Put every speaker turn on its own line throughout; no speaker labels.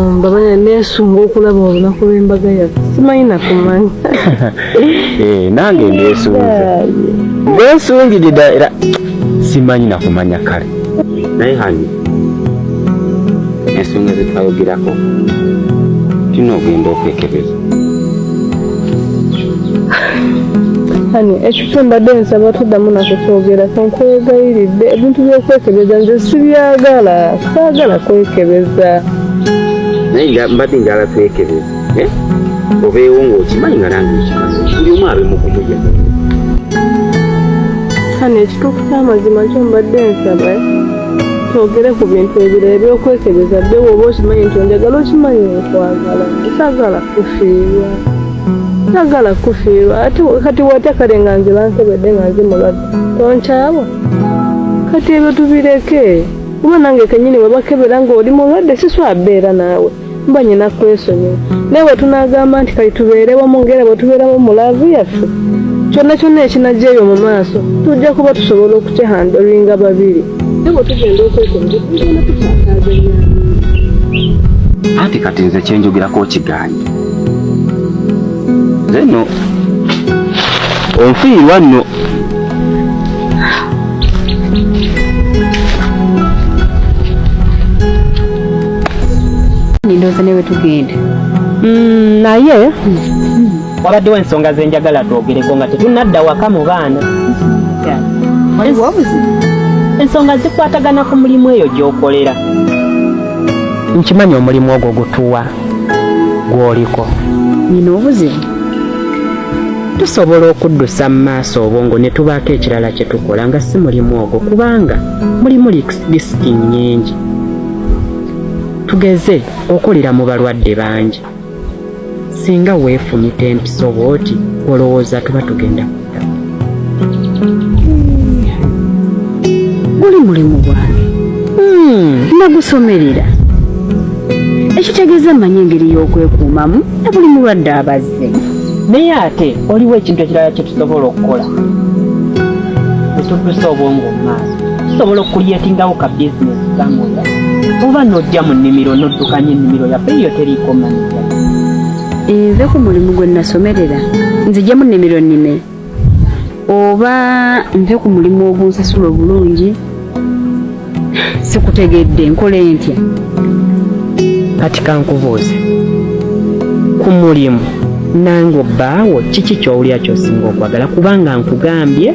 mbabanya nesunga okulaba olunaku lw'embaga yaffe simanyi nakumanyi
eh, nange nesunze nesungirida era simanyi nakumanya kale naye hani ensonga zetwayogerako tulina okugenda okwekebeza
hani ekifo mbadde nsaba tuddamu nako kyogera kankwegayiridde ebintu byokwekebeza nze sibyagala saagala kwekebeza
naye mbadde njala kwekebeza eh? obeewo ngaokimanyi nga nange okimanyi buli omu abe mukumuja
hani ekituufu kyamazima kyo mbadde nsaba eh? twogere ku bintu ebiro ebyokwekebeza bye woba okimanyi nti onjagala okimanyi okwagala sagala kufiirwa sagala kufiirwa ate kati watya kale nga nze bankebedde nga nze mulwadde tonkyawa kati ebyo tubireke kuba nange kenyini webakebera nga oli mulwadde siswabeera naawe mba nyina kwesonyiwa naye bwe tunaagamba nti kati tubeerewo mu ngera bwe tubeerawo mu laavu yaffe kyonna kyonna ekinajja ebyo mu maaso tujja kuba tusobola okukihandolinga babiri nabo tugenda okwekonza tugenda tukyakaaza
anti kati nze kyenjogerako okiganye zeno onfiirwa nno
nindoza newe tugenda mm,
naye wabaddewo ensonga zenjagala twogereko nga tetunadda waka mu baana ensonga zikwatagana ku mulimu eyo gyokolera nkimanyi omulimu ogwo gutuwa gwoliko nina
obuzibu tusobola
okuddusa mu maaso obwongo ne tubaako ekirala kye tukola nga si mulimu ogwo kubanga mulimu disiki nnyingi tugeze okolera mu balwadde bangi singa weefumita empiso bw'oti olowooza tuba tugenda kudda
guli mulimu gwange hmm, nagusomerera ekitegeeza mmanyi engeri y'okwekuumamu na buli mulwadde abazi naye ate
waliwo ekintu ekirala kye tusobola okukola etuddusa obwongo mumaaso tusobola okukulyetingawo ka bizinesi kamoya oba nojja mu nnimiro noddukanya ennimiro yaffe eyo teriiko manija
enve ku mulimu gwe nasomerera nzije mu nnimiro nnime oba nve ku mulimu ogunsasula obulungi sikutegedde nkole ntya
kati kankubuuze ku mulimu nange obbaawo kiki kyowulira kyosinga okwagala kubanga nkugambye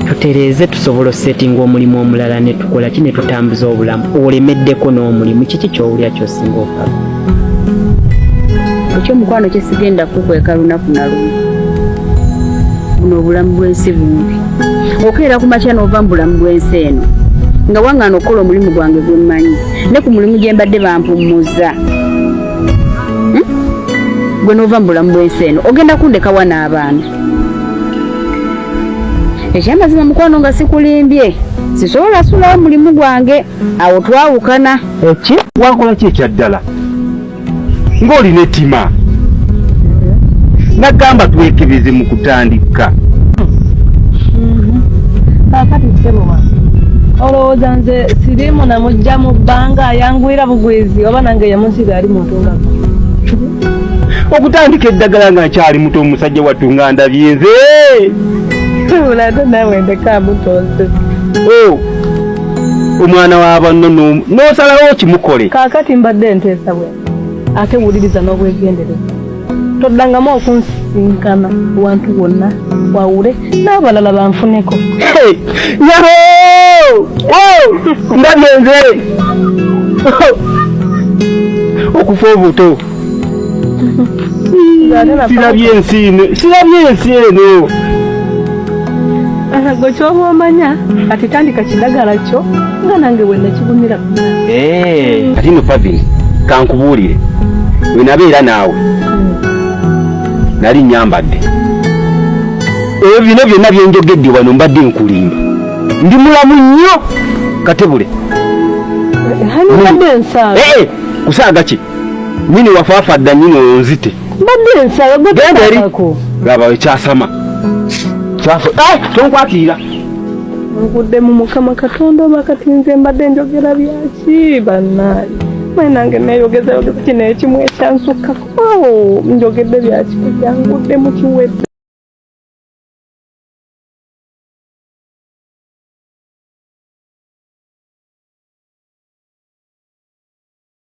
tutereeze tusobola osetinga omulimu omulala netukola ki netutambuza obulamu olemeddeko n'omulimu kiki kyowulira kyosinga okwagala ekyo
omukwano kyesigenda kukweka lunaku nalumu buno obulamu bwensi bumbi okeera ku makya n'ova mu bulamu bwensi eno nga wang'ana okukola omulimu gwange gwe mmanyi ne ku mulimu gye mbadde bampummuza hmm? gwe n'ova mu bulamu bwensi eno ogenda kundekawa n'abaana ekyamazima mukwano nga sikulimbye sisobola sulawo mulimu gwange awo twawukana Eki? Wakola
ki ekya ddala ng'olina ettima? Nagamba twekebeze mu kutandika. Mm-hmm.
Kaakati ssebo wange olowooza nze siriimu namujja mu bbanga ayanguyira bugwizi oba nange yemunsiga ali muntu nga
okutandika eddagala nga nkyali muto omusajja wattu nga ndabye nze
ulato nawe ndekamutonse oh.
omwana wa banno n'osalawo okimukole kaakati mbadde
nteesa bwe ate wuliriza n'obwegendereza toddangamu okunsinkana wantu wonna wawule n'abalala banfuneko yaho
ndabye nze okufa obuto sirabye ensi eno sirabye ensi eno
gwe kyoba omanya kati tandika kidagala kyo nga nange wenakigumira eh.
kati no pavini kankubuulire wenabeera naawe nali nyambadde ebyo bino byonna byenjogedde wano mbadde nkulimba ndi mulamu nnyo katebule
eh, eh, kusaaga ki
nyini wafafa dda nyini onzite mbadde nsaba
gwegendako
laba ekyasama kyafa eh, tonkwatiira
nkudde mu mukama katonda oba kati nze mbadde njogera byaki banaye mwe nange neyogeza yogeza kino ekimu ekyansukkako oh, njogedde byaki kubyangudde mu kiwedde